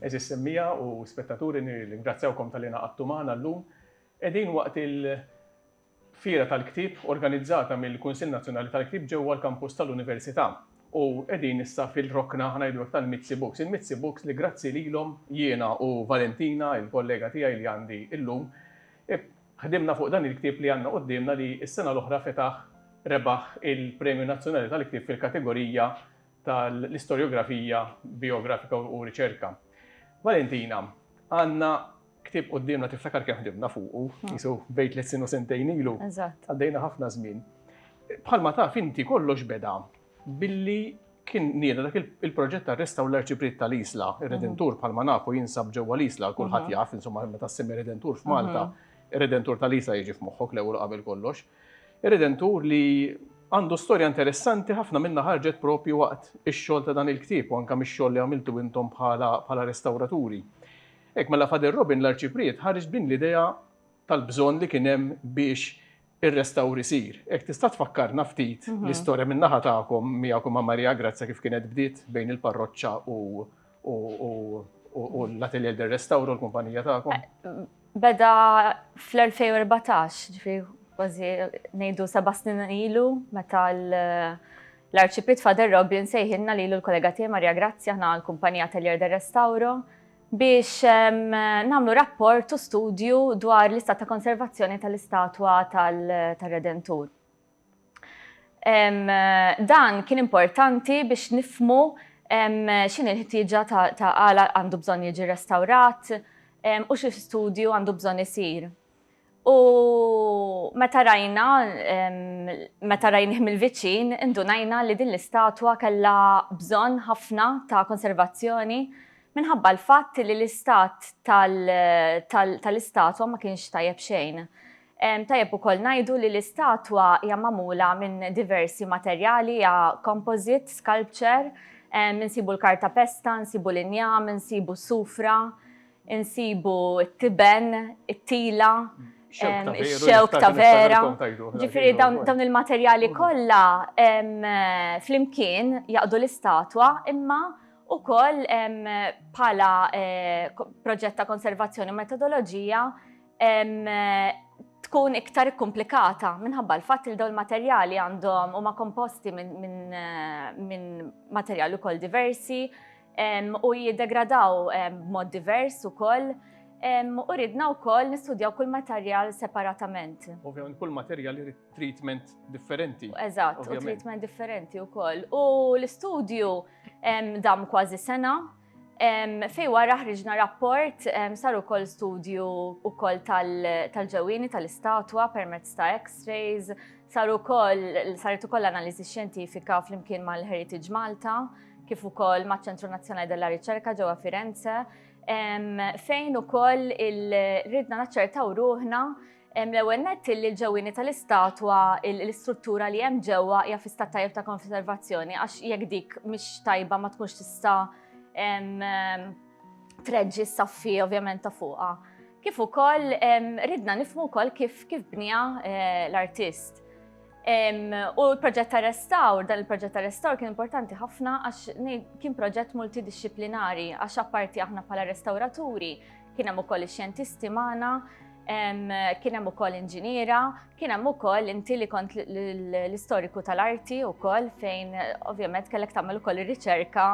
Eżis semmija u spettaturi nirringrazzjawkom tal-li naqattu magħna llum. Qegħdin waqt il-fira tal-ktib organizzata mill-Kunsill Nazzjonali tal-Ktib ġewwa l-kampus tal-Università u qegħdin issa fil-rokna ħanajdulek tal-Mizzi Books. Il-Mizzi Books li grazzi lilhom jiena u Valentina, il-kollega tiegħi li għandi llum, Ħdimna fuq dan il-ktieb li għandna quddiemna li s-sena l-oħra fetaħ rebaħ il-Premju Nazzjonali tal-Ktieb fil-kategorija tal-Istorjografija Bijografika u Riċerka. Valentina, għandna ktieb quddiemna tiftakar kemm ħdimna fuqu, qisu bejn tliet snin u sentejn ilu. Għaddejna ħafna żmien. Bħalma taf inti kollox beda Billi kien nieda dak il-proġett ta' restawr l-Arċipriet tal-Isla, ir-Redentur bħalma nafu jinsab ġewwa l-Isla, kulħadd jaf, insomma, meta ssemmi Redentur f'Malta, ir-Redentur tal-Isla jiġi f'moħħok l-ewwel qabel kollox. Ir-Redentur li għandu storja interessanti ħafna minnha ħarġet propju waqt ix-xogħol ta' dan il-ktieb u anke mix-xogħol li għamiltu intom bħala restawraturi. Hekk mela Father Robin l-Arċipriet ħareġ b'din l-idea tal-bżonn li kien hemm biex ir-restawr isir. Hekk tista' tfakkarna ftit l-istorja minn naħa tagħkom miegħek u ma' Maria Grazia kif kienet bdiet bejn il-parroċċa u l-Atelier del Restauro, l-kumpanija tagħkom? Beda fl-2014, ġifieri kważi ngħidu seba' snin ilu meta l-Arċipriet Father Rob li nsejħilna lilu l-kollega tiegħi Maria Grazia aħna l-kumpanija Atelier del Restauro biex nagħmlu rapport u studju dwar l-istat ta' konservazzjoni tal-istatwa tal-Redentur. Dan kien importanti biex nifmu x'in il-ħtieġa ta' għala għandu bżonn jiġi restawrat u xi studju għandu bżonn isir. U meta rajna, meta rajnih mill-viċin, indunajna li din l-istatwa kellha bżonn ħafna ta' konservazzjoni minħabba l-fatt li l-istat tal-istatwa ma kienx tajjeb xejn. Tajjeb ukoll ngħidu li l-istatwa hija magħmula minn diversi materjali, hija composite sculpture, insibu l-kartapesta, insibu l-injam, insibu s-sufra, insibu t-tiben, it-tila, ix-xewk ta' vera. Ġifieri dawn il-materjali kollha flimkien jaqdu l-istatwa imma wkoll bħala proġett ta' konservazzjoni u metodoloġija tkun iktar ikkumplikata minħabba l-fatt li dawn il-materjali għandhom huma komposti minn materjali wkoll diversi, u jiddegradaw b'mod divers ukoll u ridna wkoll nistudjaw kull materjal separatament. Ovvjament kull materjal irid treatment differenti. Eżatt, u treatment differenti wkoll. U l-istudju dam kważi sena fej wara ħriġna rapport sar ukoll studju ukoll tal-ġewwini tal-istatwa permezz ta' X-rays, sar ukoll saret ukoll analiżi xjentifika flimkien mal-Heritage Malta. kif ukoll maċ-Ċentru Nazzjonali della Riċerka ġewwa Firenze, fejn ukoll ridna naċċertaw ruħna l-ewwel nett li l-ġewwini tal-istatwa l-istruttura li hemm ġewwa hija fi stat tajjeb ta' konservazzjoni għax jekk dik mhix tajba ma tkunx tista' treġġi s-saffi ovvjament ta' fuqha. Kif ukoll ridna nifhmu wkoll kif kif bnija eh, l-artist. U l-proġett ta' restawr, dan il-proġett ta' restawr kien importanti ħafna għax kien proġett multidisciplinari, għax apparti aħna bħala restawraturi, kien hemm ukoll ix-xjentisti magħna, kien hemm ukoll inġiniera, kien hemm ukoll inti li kont l-istoriku tal-arti wkoll fejn ovvjament kellek tagħmel ukoll ir-riċerka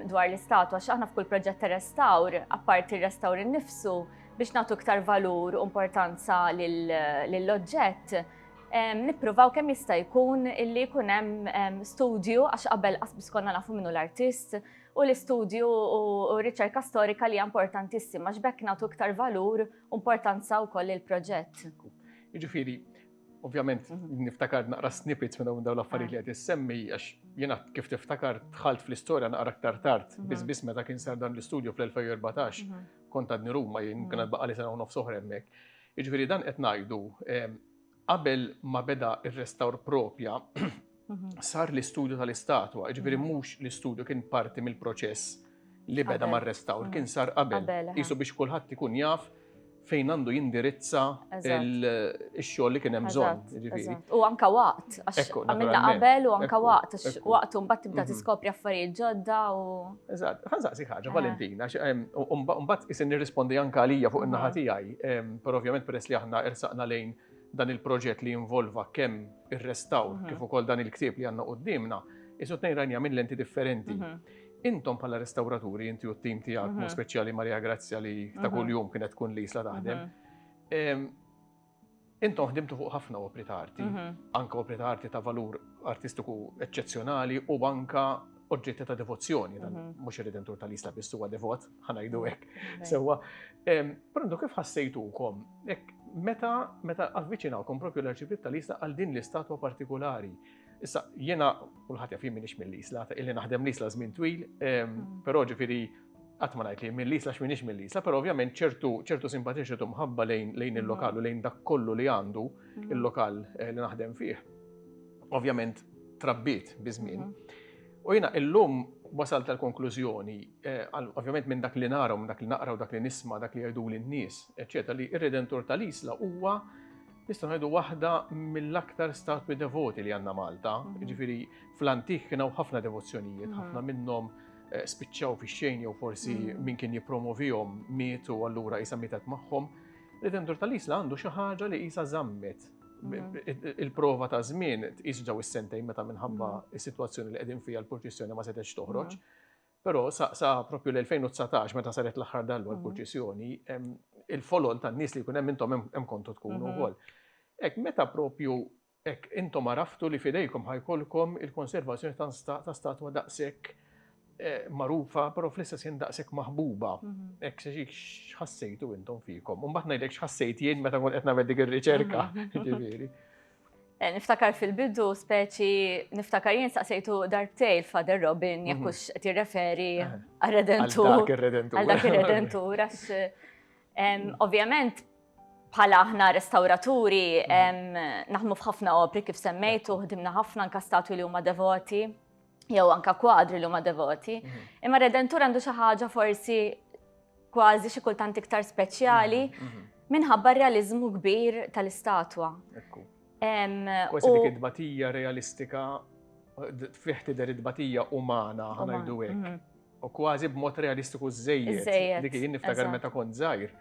dwar l-istatwa x'aħna f'kull proġett ta' restawr, apparti r-restawr innifsu biex nagħtu iktar valur u importanza lill-oġġett Nippruvaw kemm jista' jkun illi jkun hemm studju għax qabel qasbis konna nafu minnu l-artist u l-istudju u r-riċerka storika li hija importantissima għax bekk nagħtu iktar valur u importanza wkoll il-proġett. Jiġifieri, ovvjament mhm. niftakar naqra snippets minn dawn l-affarijiet li qed issemmi għax jiena kif tiftakar dħalt fl-istorja naqra aktar tard, mhm. biss biss meta kien sar dan l-istudju fl-2014 mhm. kont għadni Ruma jien kien baqa' li sena u nofs oħra hemmhekk. Jiġifieri dan qed ngħidu qabel ma beda r-restawr proprja sar l-istudju tal-istatwa, jiġifieri mhux l-istudju kien parti mill-proċess li beda mar-restawr, kien sar qabel. Qisu biex kulħadd ikun jaf fejn għandu jindirizza il-xogħol li kien hemm bżonn. Jiġifieri. U anka waqt, għax għamilna qabel u anka waqt, għax waqt u mbagħad tibda tiskopri affarijiet ġodda u. Eżatt, ħan saqsi ħaġa, Valentina, mbagħad isin nirrispondi anke għalija fuq in-naħa tiegħi, per ovvjament peress li aħna ersaqna lejn dan il-proġett li involva kemm ir-restawr kif ukoll dan il-ktieb li għandna qudiemna, isu tnejn rajnija minn lenti differenti. Intom bħala restawraturi, inti u t-tim tiegħek, speċjali Maria Grazzja li ta' kuljum kienet tkun li jisla taħdem. Intom ħdimtu fuq ħafna opri ta' arti, anka opri ta' arti ta' valur artistiku eċċezzjonali u anka oġġetti ta' devozzjoni, mhux ir-Redentur tal-Isla biss huwa devot, ħanajdu hekk. Sewwa, prontu kif ħassejtukom meta meta avviċinawkom propju l-Arċipriet tal-Isla għal din l-istatwa partikolari. Issa jiena kulħadd jaf jien m'iniex mill-Isla, illi naħdem l-Isla żmien twil, però ġifieri qatt ma ngħid li mill-Isla għax m'iniex mill-Isla, però ovvjament ċertu ċertu simpatija ċertu mħabba lejn lejn il-lokal u lejn dak kollu li għandu il-lokal eh, li naħdem fih. Ovvjament trabbit biż-żmien. U jiena illum wasal tal-konklużjoni, eh, għal- ovvjament minn dak li nara, u minn dak li naqra u dak li nisma, dak li jgħidu l-nies, eċċetera, li ir-Redentur tal-Isla huwa nistgħu ngħidu waħda mill-aktar statwi devoti li għandna Malta. Ġifieri fl-antik kien hawn ħafna devozzjonijiet, ħafna minnhom eh, spiċċaw fi xejn jew forsi mm. min kien jippromovihom mietu allura jisa mietet magħhom. Redentor tal-Isla għandu xi ħaġa li jisa żammet mm. il-prova ta' żmien tqis ġew is-sentejn meta minħabba mm. is-sitwazzjoni li qegħdin fiha l-purċissjoni ma setgħetx toħroġ. Però sa, sa propju l-2019 meta saret l-aħħar dallu l-purċissjoni, il-folol tan-nies li jkun hemm intom hemm kontu tkunu mm-hmm. wkoll. Ek meta propju Hekk intom għaraftu li f'idejkom ħa jkollkom il-konservazzjoni ta' statwa daqshekk magħrufa, però fl-istess ħin daqshekk maħbuba. Hekk x'ħassejtu intom fikom. U mbagħad ngħidlek x'ħassejt jien meta kont qed nagħmel dik ir-riċerka, jiġifieri. Eh, niftakar fil-bidu, speċi, niftakar jien saqsejtu darbtej l-Father Robin, jekk mhm. hux qed jirreferi eh, għal-redentur. Għal dak ir-redentur. Għal dak ir-redentur, għax Ovvjament, bħala aħna restauraturi, naħdmu f'ħafna opri kif semmejtu, ħdimna ħafna anka statwi li huma devoti, jew anka kwadri li huma devoti. Mhm. Imma redentur għandu xi ħaġa forsi kważi xi kultant iktar speċjali mhm, mhm. minħabba realizmu kbir tal-istatwa. Kważi dik id-batija realistika, fih tidher id-batija umana, ħanajdu hekk. U kważi b'mod realistiku żejjed. Dik jien niftakar meta kont żgħir.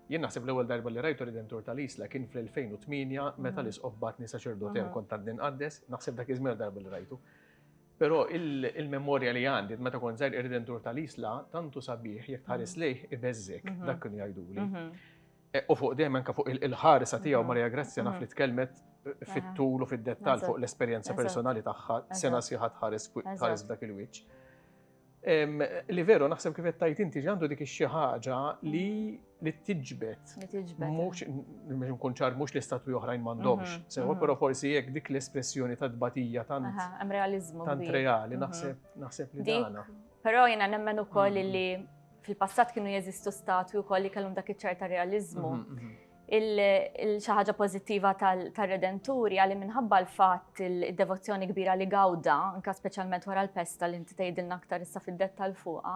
Jien naħseb l-ewwel darba li rajtu Ridentur tal-Isla kien fl-2008 meta mm. l-isqof batni saċerdot hemm kont għadni nqaddes, naħseb dak iż-żmien darba li rajtu. Però il-memorja li għandi meta kont żgħir ir-Ridentur tal-Isla tantu sabiħ jekk tħares mm. lejh ibeżżek mhm. dak kien jgħiduli. Mhm. E, u fuq dejjem anke fuq il-ħarsa tiegħu mhm. Marija Grazzja naf li tkellmet fit-tul u fid-dettall fuq l-esperjenza personali tagħha sena siħat ħares dak il-wiċċ. Li veru, naħseb kif tajt inti ġandu dik xi ħaġa li li tiġbet. Li tiġbet. Mux, mux nkun ċar, mux li statwi oħrajn mandomx. Mhm, Sewa, mhm. pero forsi jek dik l-espressjoni ta' dbatija tant. Hemm realizmu. Tant reali, mhm. naħseb, naħseb li dana. Pero jena nemmen u koll li fil-passat kienu jeżistu statwi u koll li kellhom dak iċ-ċerta realizmu. Il-xi ħaġa pożittiva tar-Redentur hija li minħabba l-fatt id-devozzjoni kbira li gawda, anke speċjalment wara l-pesta li inti tgħidilna aktar issa fid-dettall fuqha,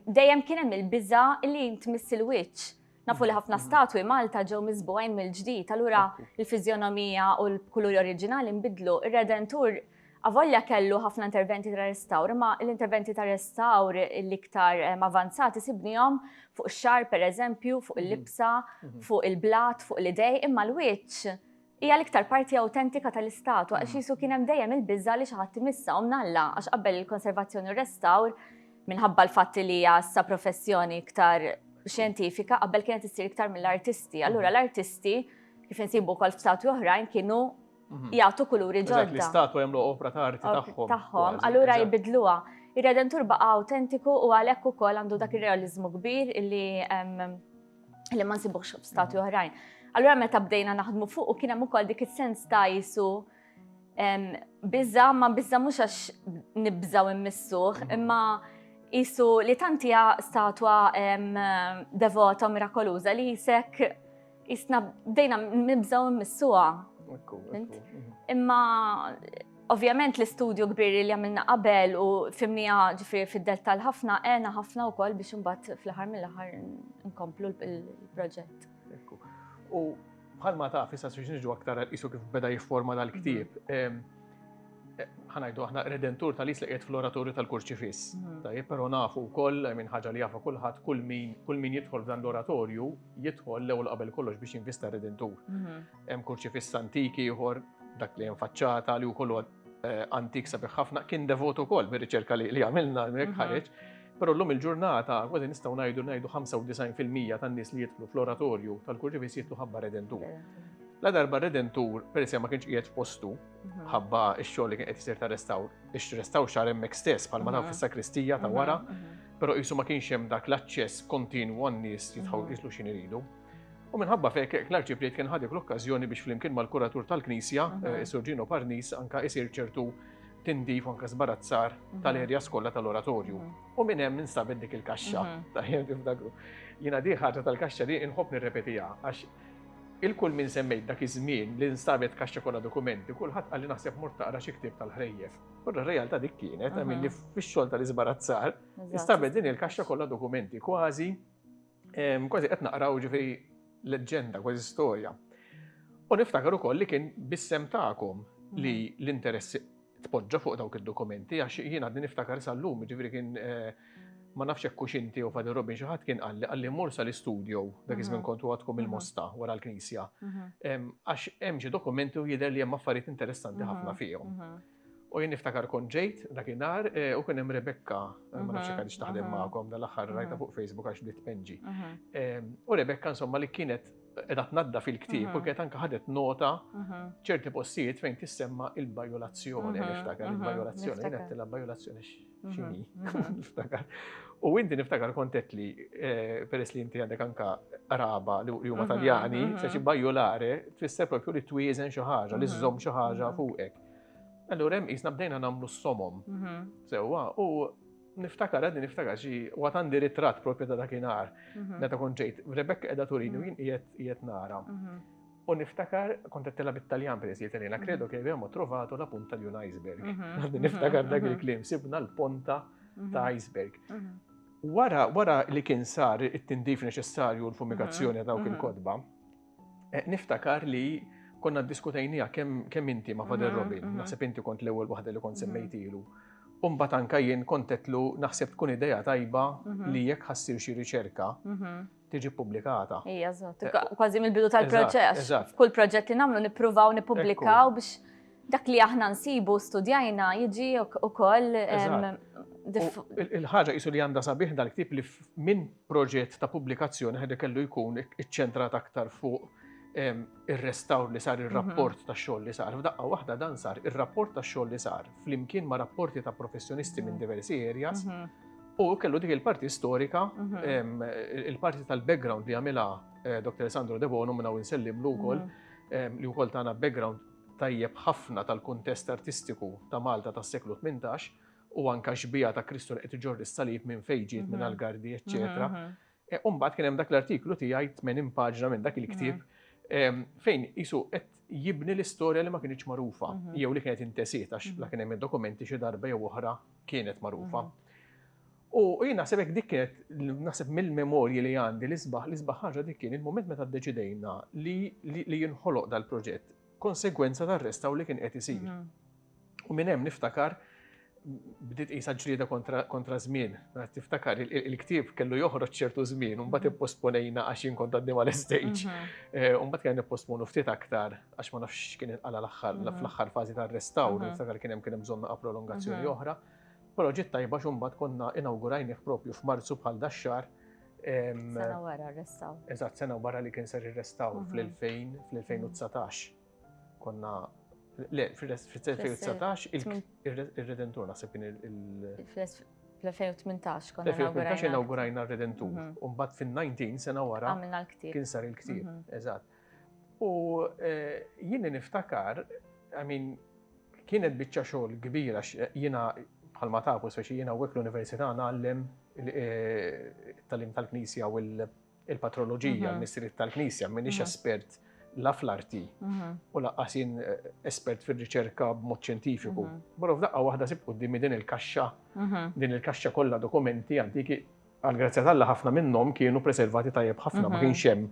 dejjem kien hemm il-biża' li tmiss il-wiċċ. Nafu li ħafna statwi Malta ġew miżbugħin mill-ġdid, allura l-fiżjonomija u l-kuluri oriġinali nbidlu. Ir-Redentur Avolja kellu ħafna interventi ta' restawr, imma l-interventi ta' restawr l-iktar eh, avanzati sibnihom fuq ix-xar pereżempju, fuq il-libsa, mhm. Mhm. fuq il-blat, fuq l-idej, imma l-wiċċ hija l-iktar parti autentika tal-istatu għax mhm. jisu kien hemm dejjem il-biża li xi ħadd imissa u mnalla għax qabel il-konservazzjoni u restawr minħabba l-fatt li hija sa professjoni iktar xjentifika qabel kienet issir iktar mill-artisti. Allura l-artisti kif insibu wkoll f'statu oħrajn kienu Mhm. jgħatu kuluri ġodda. Dak l-istatwa jagħmlu opra ta' arti tagħhom. Tagħhom, allura jibidluha. Ir-Redentur baqa' autentiku u għalhekk ukoll għandu dak ir-realiżmu kbir li li ma nsibuhx f'stati mhm. oħrajn. Allura meta bdejna naħdmu fuq u kien hemm ukoll dik is-sens ta' jisu biża ma biża mhux għax nibżaw immissuh, mhm. imma jisu li tantija statwa devota mirakoluża li jisek Isna bdejna nibżaw missuha. Imma ovvjament l-istudju kbir li għamilna qabel u fimnija ġifiri fid-delta l-ħafna, għena ħafna u koll biex mbatt fl-ħar mill-ħar nkomplu l-proġett. U bħalma ta' fissa s-sġniġu aktar għal-isu kif beda jifforma dal-ktib, mhm. ħanajdu aħna redentur tal-is li qiegħed fl-oratorju tal-kurċifis. Mhm. Tajjeb, però nafu wkoll minn ħaġa li jafu kulħadd kull min jidħol dan l-oratorju jidħol l-ewwel qabel kollox biex jinvista redentur. Mhm. Hemm kurċifiss antik ieħor dak li hemm faċċata li wkoll eh, antik sabiħ ħafna kien devot ukoll bir-riċerka li għamilna hemmhekk mhm. ħareġ. Però llum il-ġurnata kważi nistgħu ngħidu ngħidu 95% tan-nies li jidħlu fl-oratorju tal-kurċifiss jidħlu ħabba redentur. La darba redentur, per ma kienx qiegħed postu, mhm. ħabba x-xogħol li kien qed isir ta' restawr, ix-restawr xar hemmhekk stess bħalma taf fis-sakristija ta' wara. Però qisu ma kienx hemm dak l-aċċess kontinwu għan-nies jidħlu jislu x'in iridu. U minħabba fek, l-arċipriet kien ħadik l-okkazjoni biex flimkien mal-kuratur tal-Knisja, eh, Surġino Parnis, anka isir ċertu tindif anka zbarazzar mhm. tal-erja skolla tal-oratorju. Mhm. U minn hemm instabet dik il-kaxxa. Mhm. Ta' jem tifdagru. Jina di ħaġa tal-kaxxa li inħobb nirrepetija għax il-kull minn semmejt dak iż-żmien li nstabet kaxxa kollha dokumenti, kulħadd qalli naħseb mort taqra xi ktieb tal-ħrejjef. U r-realtà dik kienet, għamil li fix-xogħol tal-iżbarazzar, istabet din il-kaxxa kollha dokumenti kważi, kważi qed naqraw ġifi leġġenda, kważi storja. U niftakar ukoll li kien bissem tagħkom li l-interessi tpoġġa fuq dawk id-dokumenti, għax jien għadni niftakar sal-lum, ġifri kien eh, Ma nafx hekk hux inti jew Father Robin xi ħadd kien qalli qalli mmur sal-istudjow, dak iż-żmien kont għadkom il-Mosta wara l-Knisja. Għax hemm xi dokumenti u jidher li hemm affarijiet interessanti ħafna fihom. U jien niftakar kont ġejt dakinhar u kien hemm Rebecca, ma nafx jekk għadix taħdem magħkom dal-aħħar rajta fuq Facebook għax bdiet tpenġi. U Rebecca insomma li kienet qiegħda tnadda fil-ktieb u kienet anke ħadet nota ċerti postijiet fejn tissemma il-bajolazzjoni, niftakar il-bajolazzjoni, kienet tilha bajolazzjoni. xini, niftakar. U inti niftakar kontet li, eh, peress li inti għandek anka raba li huma mhm, taljani, mhm, se xi mhm. bajjolare, tfisser propju li twiezen xi ħaġa, li żżomm xi ħaġa fuqek. Allura hemm isna bdejna nagħmlu s-somom. Sewwa, u niftakar għadni niftakar xi waqt għandi ritratt propju ta' dakinhar. Meta kont ġejt, Rebekka qiegħda turini u jien qiegħed nara. U niftakar, kont għattela bit-Taljan peress li Taljan, kredo che abbiamo trovato la punta di un iceberg. Mhm. Niftakar mhm. dak il-klim, sibna l-ponta mhm. ta' iceberg. Wara, wara li kien sar it-tindif neċessarju l-fumigazzjoni ta' dawk il-kodba, eh, niftakar li konna diskutajnija kemm inti ma' Fader Robin, naħseb inti kont l-ewwel waħda li kont semmejtilu. Umbat anka jien kontetlu naħseb tkun ideja tajba li jekk ħassir xi riċerka tiġi ppubblikata. Ija, zot, eh, kważi mill-bidu tal-proċess. Kull proġett li nagħmlu nippruvaw nippubblikaw biex dak li aħna nsibu studjajna jiġi ukoll Il-ħaġa jisu li għanda sabiħ dal-ktib li minn proġett ta' pubblikazzjoni ħedha kellu jkun iċċentrat aktar fuq ir-restawr li sar ir-rapport mhm. ta' xogħol li sar. F'daqqa waħda dan sar ir-rapport ta' xogħol li sar flimkien ma' rapporti ta' professjonisti minn mhm. diversi areas mhm. U kellu dik il-parti storika, mhm. il-parti tal-background li għamilha eh, Dr. Sandro Debono minna u nsellimlu wkoll mhm. li wkoll tagħna background tajjeb ħafna tal-kuntest artistiku ta' Malta tas-seklu 18 u anka xbija ta' Kristu li qed iġorri s-salib minn fejġiet minn mhm. Algardi, eċċetera. E, u mbagħad kien hemm dak l-artiklu tiegħi 80 paġna minn dak il-ktieb mm. fejn isu qed jibni l-istorja li ma kienx magħrufa mhm. jew li kienet intesiet għax mhm. la kien hemm id-dokumenti xi darba jew oħra kienet magħrufa. Mhm. U jien naħseb hekk dik kienet naħseb mill-memorji li għandi li sbaħ li sbaħ ħaġa dik kien il-mument meta ddeċidejna li jinħoloq dal-proġett konsegwenza tar-restaw li kien qed isir. U minn hemm niftakar bdiet qisha ġlieda kontra żmien. Tiftakar il-ktieb kellu joħroġ ċertu żmien, un mbagħad ipposponejna għax jien kont għaddim għal stage. Mhm. Eh, un mbagħad kien nipposponu ftit aktar għax ma nafx kien inqala l-aħħar mhm. fl-aħħar fażi tar-restawr, mhm. niftakar kien hemm kien hemm bżonn naqa' prolongazzjoni oħra. Però ġiet tajba x'umbat konna inawgurajnih propju f'Marzu bħal dax-xahar. Sena wara r-restawr. Eżatt, sena wara li kien ser ir-restawr fl-2000 fl-2019. Konna Le, fil-2019 il-Redentur naħseb kien il- Fl-2018 konna inaugurajna. inaugurajna r-Redentur. Mhm. Umbat fil-19 sena wara. Għamilna l-ktib. Kien sar il-ktib, mhm. eżatt. U eh, jien niftakar, I mean, kienet biċċa xogħol kbira eh, jiena bħalma tafu speċi jiena wek l-Università għallem eh, tal-im tal-Knisja u l- il-patroloġija, l-missiriet tal-Knisja, minix espert la fl-arti u laqqas jien eh, espert fil-riċerka b'mod ċentifiku. Barra f'daqqa waħda sib quddimi din il-kaxxa, din il-kaxxa kollha dokumenti antiki għal-grazzja tal-la ħafna minnhom kienu preservati tajjeb ħafna, ma kienx hemm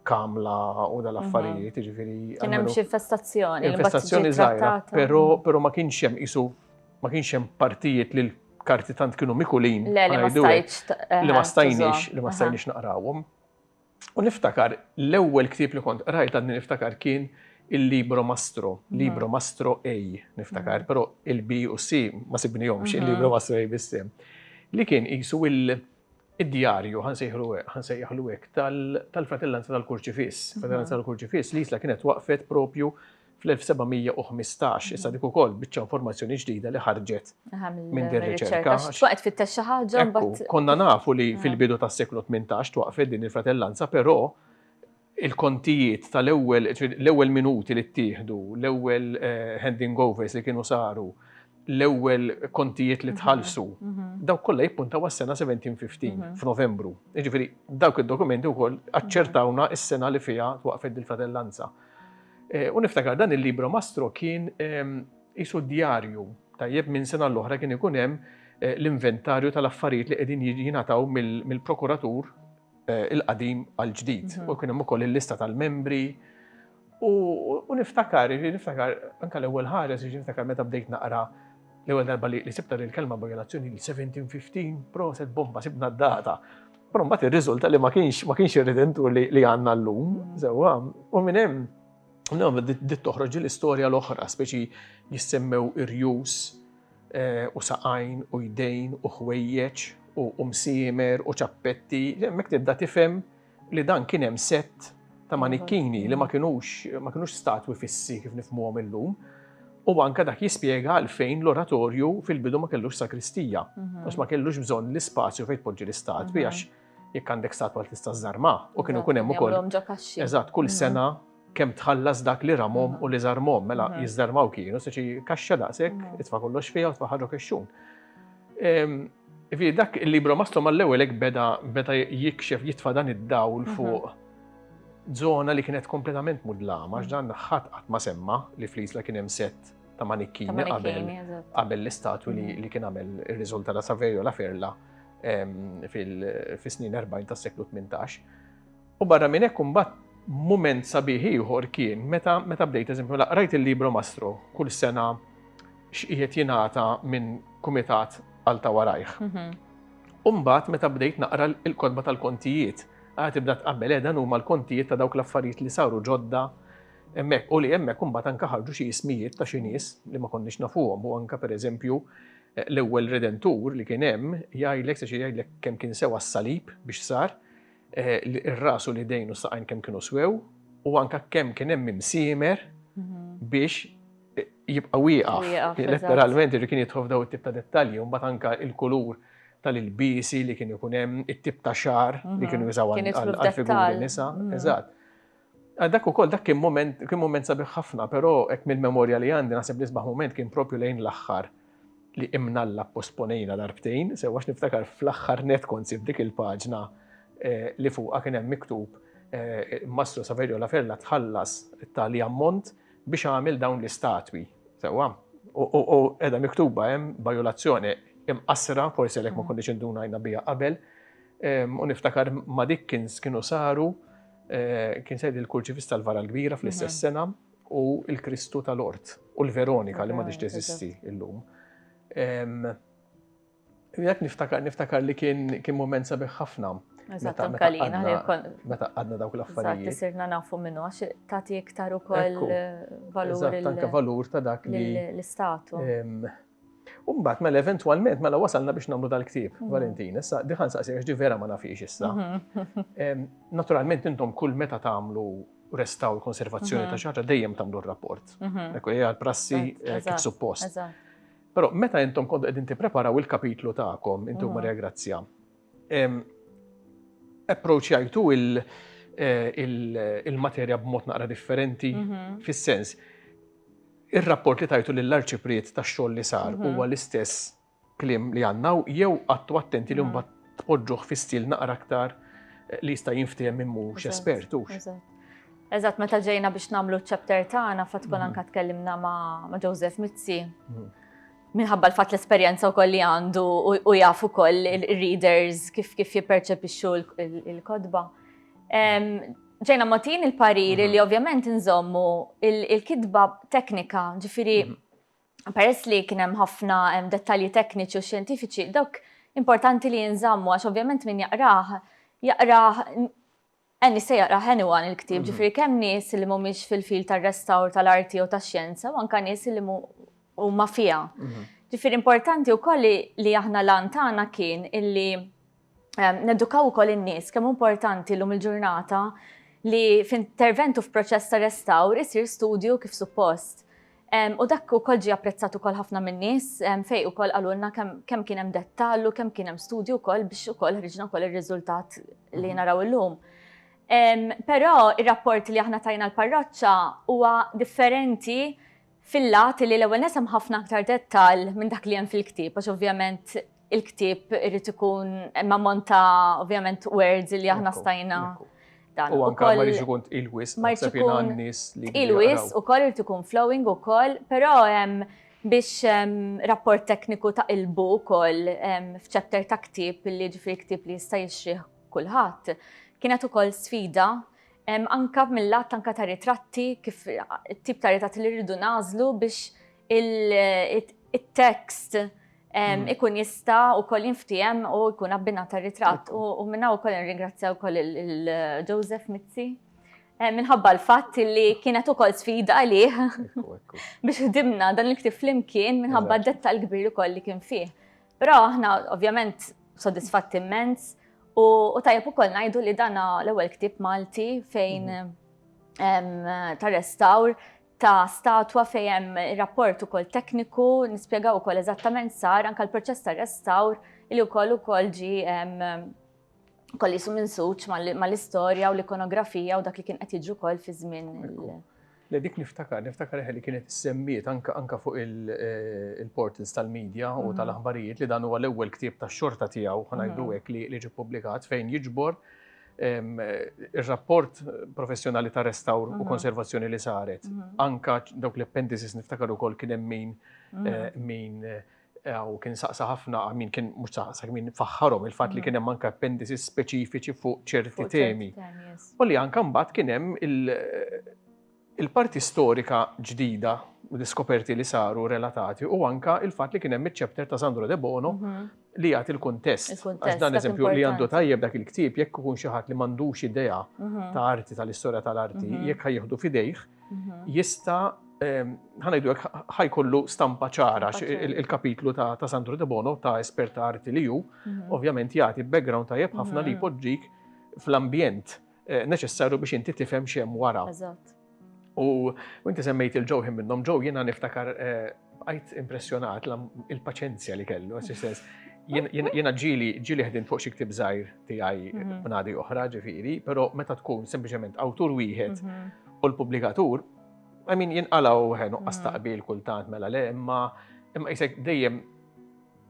kamla u dal-affarijiet, ġifiri. Kien hemm xi infestazzjoni. Infestazzjoni żgħira, però ma kienx hemm isu ma kienx hemm partijiet li l-karti tant kienu mikulin. Le, li ma stajtx. Eh, li ma stajniex, li ma stajniex naqrawhom. U niftakar, l-ewwel ktieb li kont qrajt għadni niftakar kien il-Libro Mastro, mhm. Libro Mastro A, niftakar, mhm. però il-B u C ma sibnihomx, mhm. il-Libro Mastro A bissem. Li kien qisu il-djarju, ħansejħlu ħansejħlu hekk, tal-fratellanza tal-kurċifis. Fratellanza tal-kurċifis li jisla kienet waqfet propju fl-1715, issa dik ukoll biċċa informazzjoni ġdida li ħarġet minn din riċerka. X'waqt fittex xi ħaġa mbagħad. Konna nafu li ah. fil-bidu tas-seklu 18 twaqfet din il-fratellanza, però il-kontijiet tal-ewwel l-ewwel minuti li ttieħdu, l-ewwel eh, handing overs li kienu saru, l-ewwel kontijiet li mhm, tħallsu, mhm. dawk kollha jippuntaw għas-sena 1715 mhm. f'Novembru. Jiġifieri dawk id-dokumenti wkoll aċċertawna s-sena li fiha twaqfet il-fratellanza. Eh, u niftakar dan il-libro mastro kien ehm, isu djarju tajjeb minn sena l-oħra kien ikun hemm eh, l-inventarju tal-affarijiet li qegħdin jingħataw mill-prokuratur eh, il-qadim għal-ġdid. Mhm. U kien hemm ukoll il-lista tal-membri. U niftakar, niftakar anke l-ewwel ħares, niftakar meta bdejt naqra L-ewwel darba li sibta lil kelma b'relazzjoni li 1715, proset bomba sibna d-data. Però mbagħad irriżulta li ma kienx ma kienx irridentur li, li għandna llum, sewwa, u minn hemm Nagħmlu dit toħroġ l-istorja l-oħra, speċi jissemmew irjus eh, u saqajn u jdejn u ħwejjeġ u msiemer u ċappetti, hemmhekk tibda tifhem li dan kien hemm sett ta' manikkini li ma kinux ma kinux statwi fissi kif nifmuhom illum. U anka dak jispjega għalfejn l-oratorju fil-bidu ma kellux sakristija, mhm. għax ma kellux bżonn l-ispazju fejn tpoġġi l-istatwi mhm. għax jekk għandek statwa tista' żarma u kienu kun hemm ukoll. Eżatt, kull mhm. sena Kemm tħallas dak li ramhom u li żarmhom, mela jiżżarmaw kienu, se xi kaxxa daqshekk, itfa' kollox fiha u tfa' ħaġok ix-xun. Ivi dak il-libro mastru mal-ewwel hekk beda beda jikxef jitfa' dan id-dawl fuq żona li kienet kompletament mudlama għax dan ħadd qatt ma semma li fl-Isla kien hemm sett ta' manikkini qabel qabel l-istatwi li li kien għamel ir-riżulta ta' Saverio la Ferla fil-snin 40 tas-seklu 18. U barra minn hekk imbagħad mument sabiħ ieħor kien meta meta bdejt eżempju mela qrajt il-Libro Mastro kull sena x'qiegħed jingħata minn kumitat għal ta' warajh. U mbagħad meta bdejt naqra l-kotba tal-kontijiet, għad tibda tqabbel eh, dan huma l-kontijiet ta' dawk l-affarijiet li saru ġodda hemmhekk u li hemmhekk imbagħad anke ħarġu xi ismijiet ta' xi nies li ma konniex nafuhom u anke pereżempju eh, l-ewwel redentur li kien hemm jgħidlek se jgħidlek kemm kien sewa s-salib biex sar Ir-ras u l-idejn u s-saqajn kemm kienu swew u anke kemm kien hemm imsiemer biex jibqa' wieqaf. Letteralment irri kien jidħol f'daw it-tip ta' dettalji u mbagħad anke il-kulur tal-ilbiesi li kien ikun hemm, it-tip ta' xagħar li kienu jużaw għall-figuri nisa. Eżatt. Ah, dak ukoll dak kien moment kien moment sabiħ ħafna, però hekk mill-memorja li għandi naħseb li sbaħ moment kien propju lejn l-aħħar li imnalla posponejna darbtejn, sewa niftakar fl-aħħar net kont sib dik il-paġna eh, li fuqha kien hemm miktub eh, Mastru Saverio La Ferla tħallas tali ammont biex għamil dawn l-istatwi. Sewa, u edha miktuba hemm bajolazzjoni imqasra, forsi għalhekk ma mm. konniex indunajna bija qabel, u niftakar ma dik kienu saru Kien se jgħidil kurċifiss tal-Vara l-Kbira fl-istess sena u l-Kristu tal-Ort u l-Veronika li m'għadhiex teżisti llum. Jekk niftakar, niftakar li kien mument sabiħ ħafna. Eżatt, anka li Meta għadna dawk l-affarijiet. Eżatt, sirna nafu minnu, għax tagħti iktar ukoll eh, valur. Eżatt, anka valur ta' dak li. L-istatu. U mbagħad mela eventwalment mela wasalna biex nagħmlu dal-ktieb, mhm. Valentin. Issa diħan saqsi għax di vera ma nafix issa. Mhm. Naturalment intom kull meta tagħmlu restaw l-konservazzjoni ta' mhm. xaġa dejjem tagħmlu r-rapport. Ekku hija l-prassi eh, kif suppost. Però meta intom kont qegħdin tippreparaw il-kapitlu tagħkom intom Maria Grazzja, approachjajtu eh, il-materja b'mod naqra differenti fis-sens Ir-rapport li tajtu lill-Arċipriet tax-xogħol li sar huwa l-istess kliem li għandna hawn jew qgħadtu attenti li mbagħad tpoġġuh fi stil naqra aktar li jista' jinftiehem min mhux espert hux? Eżatt. Eżatt, meta ġejna biex nagħmlu ċ-chapter tagħna fatt kol anke tkellimna ma' Joseph Mizzi. Minħabba l-fatt l-esperjenza wkoll li għandu u jaf ukoll ir-readers kif kif jipperċepixxu l-kotba. Ġejna mogħtin il-parir li ovvjament inżommu il-kitba teknika, ġifieri peress li kien hemm ħafna dettalji tekniċi u xjentifiċi, dawk importanti li jinżammu għax ovvjament min jaqrah, jaqrah għanni se jaqrah anyone il-ktib, ġifieri kemm nies li mhumiex fil-fil tar-restawr tal-arti jew tax-xjenza u anke nies li huma fiha. Ġifieri importanti wkoll li aħna l-għan tagħna kien illi Nedukaw ukoll in-nies kemm importanti llum il-ġurnata li f'intervent u f'proċess ta' restawr isir studju kif suppost. U dak ukoll ġie apprezzat ukoll ħafna min-nies fejn ukoll qalulna kemm kien hemm dettall u kemm kien hemm studju wkoll biex ukoll ħriġna wkoll ir-riżultat li naraw illum. Però r-rapport li aħna tajna l-parroċċa huwa differenti fil-lat li l-ewwel nett hemm ħafna aktar dettall minn dak li hemm fil-ktieb għax ovvjament il-ktieb irid ikun hemm ammont ta' ovvjament words li aħna stajna dan. U anke ma jiġi jkun tqil wisq naħseb jiena nies li. Tqil wisq ukoll irid ikun flowing ukoll, però hemm biex rapport tekniku ta' qilbu wkoll f'chapter ta' ktieb li jiġifieri ktieb li jista' jixtrih kulħadd kienet ukoll sfida Anke mill-lat anke ta' ritratti, kif it-tip ta' ritratti li rridu nażlu biex il-tekst Mm. ikun jista u koll jinftijem u jkun abbina ta' ritratt. U minna u koll ringrazzja u koll il-Joseph Mizzi. Minħabba l-fatt li kienet u koll sfida li biex ħdimna dan il-ktib flimkien minħabba d-detta l-kbir u koll li kien fih. Però aħna ovvjament sodisfatti immens u tajjeb ukoll ngħidu li dana l-ewwel ktieb Malti fejn mhm. ta' restawr ta' statwa fejem rapport ukoll tekniku, nispjegaw ukoll eżattament sar anka l-proċess ta' restawr li wkoll ukoll ġi kolli jisu minn suċ mal-istorja u l-ikonografija u dak li kien qed jiġu wkoll fi żmien Le dik niftakar, niftakar eħe li kienet issemmiet anka anka fuq il-portals tal-media u tal-aħbarijiet li dan huwa l-ewwel ktieb tax-xorta tiegħu, ħa ngħidu hekk, li ġie ppubblikat fejn jiġbor ir-rapport professjonali ta' restawr u konservazzjoni li saret. Anka dawk l-appendices niftakar ukoll kien hemm min min u kien saqsa ħafna min kien mhux saqsa min faħħarhom il-fatt li mm. kien hemm anke appendices speċifiċi fuq ċerti temi. U li anke mbagħad kien hemm il-parti storika ġdida l-iskoperti li saru relatati u anka il-fat li kienem il-ċepter ta' Sandro De Bono mhm. li jgħat il-kontest. Għax dan eżempju li għandu tajjeb dak il-ktib jekk ikun xi ħadd li m'għandux idea mhm. ta' arti tal-istorja tal-arti mhm. jekk ħajjeħdu fidejh mhm. jista' ħanajdu għek ħajkollu stampa ċara il-kapitlu ta' Sandro De Bono ta' esperta arti li ju, mhm. ovvjament jagħti background tajjeb ħafna li mhm. jpoġġik fl-ambjent eh, neċessarju biex inti tifhem xem wara. U inti semmejt il-ġew minnhom ġew jiena niftakar eh, Bqajt impressjonat il-paċenzja li kellu, għas Jena ġili ġili ħdin fuq xi ktib żgħir tiegħi mhm. b'nadi oħra ġifieri, però meta tkun sempliċement awtur wieħed mhm. u l-pubblikatur, I mean jinqalaw ħenu qastaqbil mhm. kultant mela le imma imma jisek dejjem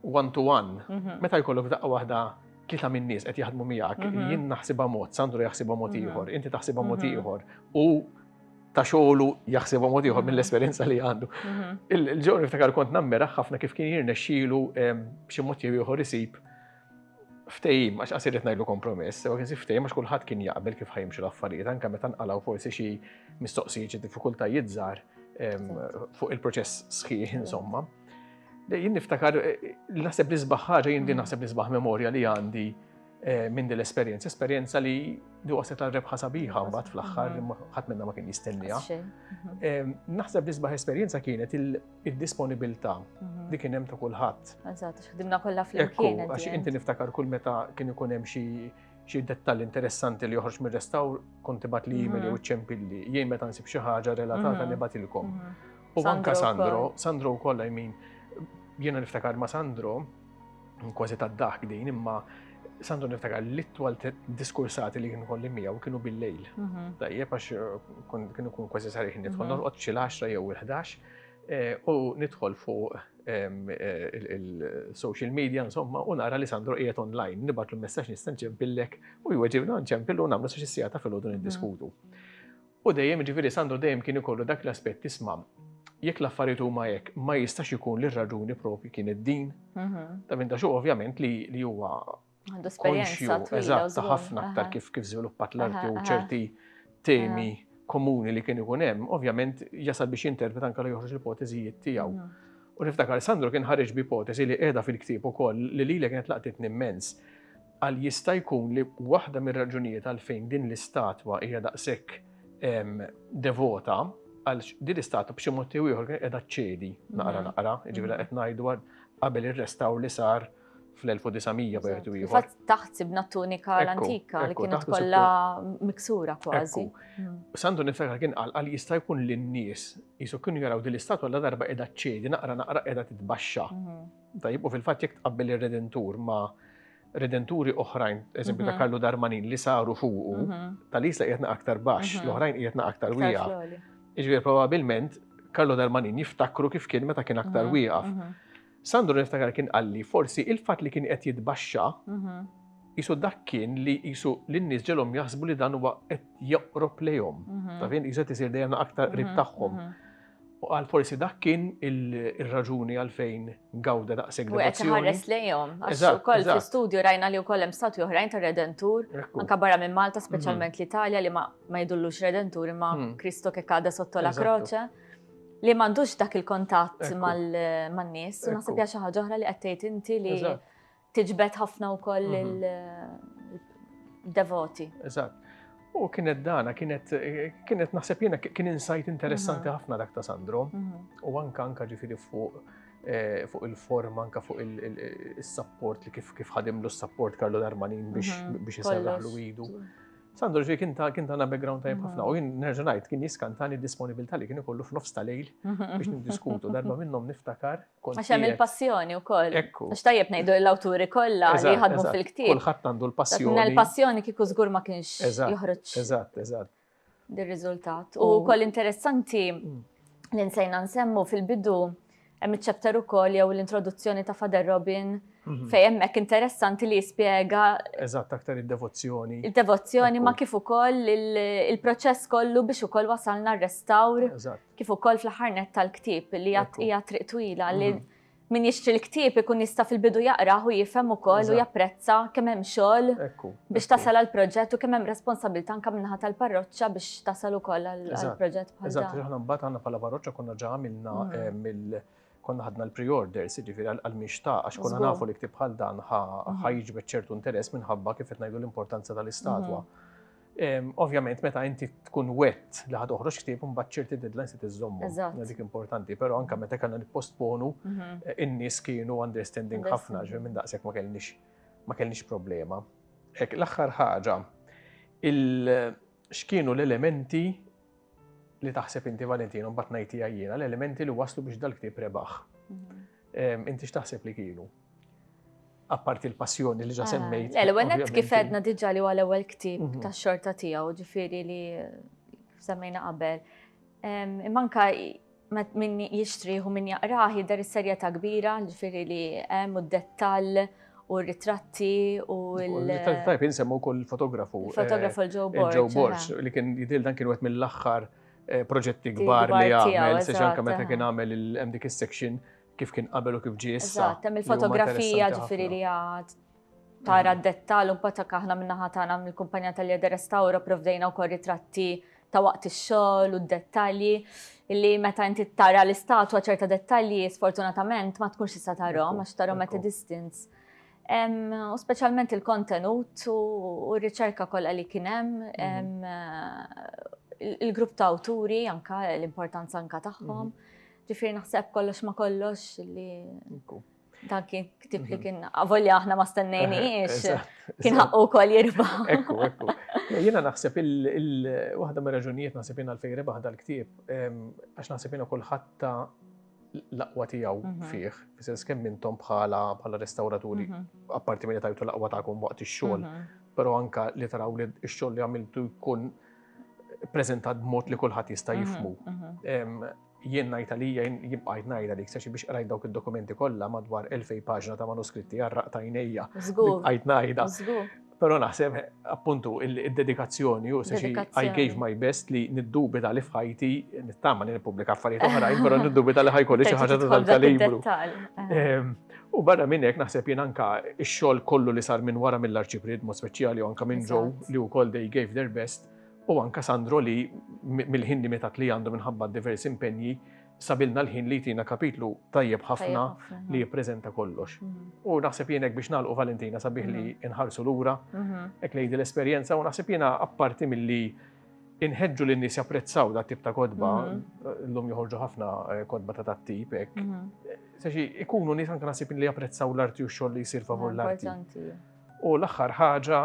one to one, meta jkollok f'daqqa waħda tlieta minn nies qed jaħdmu miegħek, mhm. jien naħsibha mod, Sandro jaħsibha mod mhm. ieħor, inti taħsibha mod mhm. ieħor u ta' xogħlu jaħsibha mod ieħor mill-esperjenza li għandu. Il-ġewni ftakar kont nammera ħafna kif kien jirnexxielu b'xi mod jew ieħor isib ftejim, għax għasir jtnajlu kompromess, u kien ftejim għax kullħat kien jaqbel kif ħajimxu l-affarijiet, anka meta nqalaw forsi xi mistoqsijiet xi diffikultajiet żgħar fuq il-proċess sħiħ insomma. Jien niftakar, naħseb nisbaħ ħaġa, jien din naħseb nisbaħ memorja li għandi eh, minn din l-esperjenza, esperjenza li li waset għal rebħa sabiħa mbagħad fl-aħħar li ħadd minna ma kien jistennija. Mhm. Naħseb nisbaħ esperjenza kienet il-disponibilità mhm. li kien hemm ta' kulħadd. Eżatt, x'ħdimna kollha flimkien. Għax inti niftakar kull meta kien ikun hemm xi xi dettall interessanti li joħroġ mir-restawr kont tibgħat li email mhm. jew ċempilli. Jien meta nsib xi ħaġa relatata nibatilkom. U anka Sandro, Sandro u koll min, jena niftakar ma Sandro, kważi ta' daħk din, imma Sandro niftakar li twal diskursati li kienu kolli mija u kienu bil-lejl. Mhm. Tajjeb, għax eh, kienu kun kważi sarih nidħol, mhm. norqot xil 10 jew il-11 eh, u nidħol fuq eh, il-social media, insomma, u nara li Sandro qiegħed online, nibatlu messaġġ nista' nċempillek u jweġibna nċempillu u nagħmlu sa xi sigħata fil-għodu mhm. niddiskutu. U dejjem, jiġifieri Sandro dejjem kien ikollu dak l-aspett isma' jekk l-affarijiet huma hekk ma jistax ikun li r-raġuni propju kienet din. Ta' minn ta' xogħol ovvjament li huwa konxju eżatt ta' ħafna aktar kif kif żviluppat l-arti u ċerti temi komuni li kien ikun hemm, ovvjament jasal biex jinterpret anke li joħroġ l-ipoteżijiet tiegħu. U niftakar Sandro kien ħareġ b'ipoteżi li qiegħda fil-ktieb ukoll li lili kienet laqtitni immens. Qal jista' jkun li waħda mir-raġunijiet għalfejn din l-istatwa hija daqshekk devota għal din l-istatwa b'xi mod jew ieħor kienet qiegħda ċċedi naqra naqra, jiġifieri qed ngħidu qabel ir-restawr li sar fl-1900 b'wieħed u ieħor. Taħt sibna tunika l-antika li kienet kollha miksura kważi. Hmm. Sandu nifekar kien qal qal jista' jkun li n-nies jisu kienu jaraw din l-istatwa la darba qiegħda ċċedi naqra naqra qiegħda titbaxxa. Hmm. Tajib u fil-fatt jekk tqabbel ir-redentur ma' redenturi oħrajn, eżempju ta' Karlu mhm. Darmanin li saru fuqu, mhm. tal-isla qiegħed aktar baxx, mhm. l-oħrajn qiegħed aktar wija. Iġbir probabilment Karlu Darmanin jiftakru kif kien meta kien aktar wieqaf. Sandro niftakar kien qalli forsi il-fatt li kien qed jitbaxxa jisu dak kien li jisu l-nies ġelhom jaħsbu li dan huwa qed joqrob lejhom. Ta' fin jiset isir dejjem aktar qrib tagħhom. U qal forsi dak kien ir-raġuni għalfejn gawda daqshekk devozzjoni. U qed iħares lejhom, għax ukoll fl-istudju rajna li wkoll hemm statwi oħrajn tar-Redentur, anke barra minn Malta, mhm. speċjalment l-Italja li ma jdullux Redentur imma mhm. Kristo kek għadha sotto la croce li m'għandux dak il-kontatt man-nies, u naħseb xi ħaġa oħra li qed tgħid inti li tiġbed ħafna wkoll il-devoti. Eżatt. U kienet dana, kienet, kienet naħseb jiena kien insight interessanti mhm. ħafna dak ta' Sandro, mhm. u anka anka ġifiri fuq eh, fuq il-forma, anka fuq il-support li kif kif ħadimlu s-support Karlo Darmanin biex mhm. biex jiserraħlu idu. Sandro ġi kien ta' kien ta' background tajb ħafna u jien nerġa' ngħid kien jiskantani d-disponibilità li kien ikollu f'nofs ta' lejl biex niddiskutu darba minnhom niftakar Għax hemm il-passjoni wkoll. Ekku. Għax tajjeb ngħidu l-awturi kollha li jħadmu fil-ktieb. Kulħadd għandu l-passjoni. Il-passjoni kieku żgur ma kienx joħroġ. Eżatt, eżatt. Dir-riżultat. U wkoll interessanti mm. li nsejna nsemmu fil-bidu hemm iċ-chapter ukoll jew l-introduzzjoni ta' Fader Robin mhm. fejn hemmhekk interessanti li jispjega Eżatt aktar id-devozzjoni. Id-devozzjoni ma kif ukoll il-proċess kollu biex ukoll wasalna r-restawr kif ukoll fl-aħħar nett tal-ktieb li hija triq twila li mhm. min jixtri l-ktieb ikun jista' fil-bidu jaqrah u jifhem ukoll u japprezza kemm hemm xogħol biex tasal għal proġett u kemm hemm responsabilità anke minnaħa tal-parroċċa biex tasal ukoll għal proġett bħal Eżatt, aħna mbagħad għandna bħala parroċċa konna ġa għamilna mhm. eh, mill konna ħadna l-pre-orders, jiġifieri għal mixta għax konna nafu li ktieb bħal dan mhm. ħajġbet ċertu interess minħabba kif qed ngħidu l-importanza tal-istatwa. Ovvjament, meta inti tkun wet li ħad oħroġ ktib, mbagħad ċerti deadlines se tiżommu. Dik importanti, però anke meta kellna nippostponu, mhm. eh, in-nies kienu understanding ħafna, ġej minn daqshekk ma kellniex ma kellniex problema. Hekk l-aħħar ħaġa, x'kienu l-elementi li taħseb inti Valentino mbagħad ngħidtiha jiena, l-elementi li waslu biex dal-ktieb rebaħ. Mhm. Inti x'taħseb li kienu? apparti l-passjoni li ġa ah, semmejt. L-ewenet kif edna diġa li għal ewel ktib mhm. ta' xorta tijaw, ġifiri li semmejna qabel. Manka minn jishtri u minn jaqraħi dar is-serja ta' kbira, ġifiri li hemm u d-dettall u ritratti u l-ritratti tajb jinsemmu kol fotografu. Fotografu l-ġo Borg. Borg li kien jidil dan kien wet mill-axħar proġetti kbar li għamel, se ġanka meta kien għamel il-hemm dik is-section kif kien qabel u kif ġie issa. Eżatt, hemm il-fotografija ġifieri li għad tara d-dettal un patak aħna minna ħatana mill kumpanja tal-Jeder Restauro provdejna u kol ritratti ta' waqt ix-xogħol u d-dettalji illi meta inti tara l-istatwa ċerta dettalji sfortunatament ma tkunx tista' tarhom għax tarhom at a distance. U speċjalment il-kontenut u r-riċerka kollha li kien hemm mhm. il-grupp ta' awturi anka l-importanza anka tagħhom. Mhm. Ġifieri naħseb kollox ma kollox li dan kien ktib li mhm. kien avolja aħna ma stennejniex. Kien ħaqqu wkoll jirba. Ekku, ekku. Jiena naħseb il-waħda mir-raġunijiet naħseb jiena l-fejn rebaħ dal-ktieb għax naħseb jiena kulħadd ta' l-aqwa tiegħu fih, fis-sens kemm intom bħala bħala restawraturi, apparti milli tajtu l-aqwa tagħkom waqt ix-xogħol, però anka li taraw li x-xogħol li għamiltu jkun preżentat b'mod li kulħadd jista' jifmu. Jien ngħid għalija jibqgħid ngħid għalik se biex qrajt dawk id-dokumenti kollha madwar 2000 paġna ta' manuskritti għarraq tajnejja. Żgur. Qajt ngħidha. Żgur. Pero naħseb, appuntu, il-dedikazzjoni, u se I gave my best li niddubita li fħajti, nittama li nipublika affarijiet oħrajn, pero niddubita li ħajkolli xi ħaġa ta' kalibru ehm, U barra minn hekk naħseb jien anka x-xogħol kollu li sar minn wara mill-arċiprid mod speċjali u anka minn ġew li wkoll they gave their best u anka Sandro li mill-ħin limitat li għandu minħabba diversi impenji sabilna l-ħin li jtina kapitlu tajjeb ħafna li jippreżenta kollox. Mhm. U naħseb jenek biex nalqu Valentina sabiħ li mhm. inħarsu lura, mhm. ek lejdi l-esperjenza u naħseb jena apparti mill-li inħedġu li n-nis japprezzaw da tip ta' kodba, l-lum joħorġu ħafna eh, kodba ta' dat tip, ek. Seċi, ikunu nis anka nasib li japprezzaw l-arti u xoll li jisir favur l-arti. U l-aħħar ħaġa,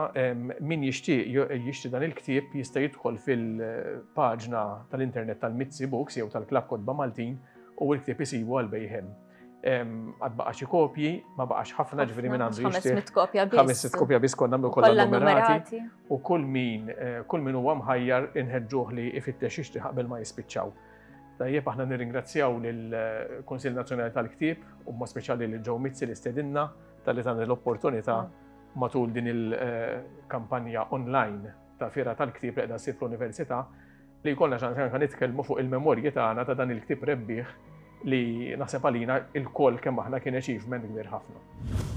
min jixtieq jixtri dan il-ktieb jista' jidħol fil-paġna tal-internet tal-Mizzi Books jew tal-Klabb Kotba Maltin u l-ktieb isibu għal bejħem. Għad baqa xi kopji, ma baqax ħafna ġveri minn għandu jixtieq. 500 kopja biss. 500 kopja biss konna nagħmlu kollha numerati. U kull min, kull min huwa mħajjar inħeġġuh li ifittex jixtri qabel ma jispiċċaw. Tajjeb aħna nirringrazzjaw lill-Kunsill Nazzjonali tal-Ktieb u ma speċjali lil Joe Mizzi li stedinna tal-li tagħni l-opportunità matul din il-kampanja online ta' fira tal-ktib li qiegħda ssir fl-Università li jkollna ċans anke nitkellmu fuq il-memorji tagħna ta' dan il-ktib rebbieħ li naħseb għalina il-koll kemm aħna kien achievement kbir ħafna.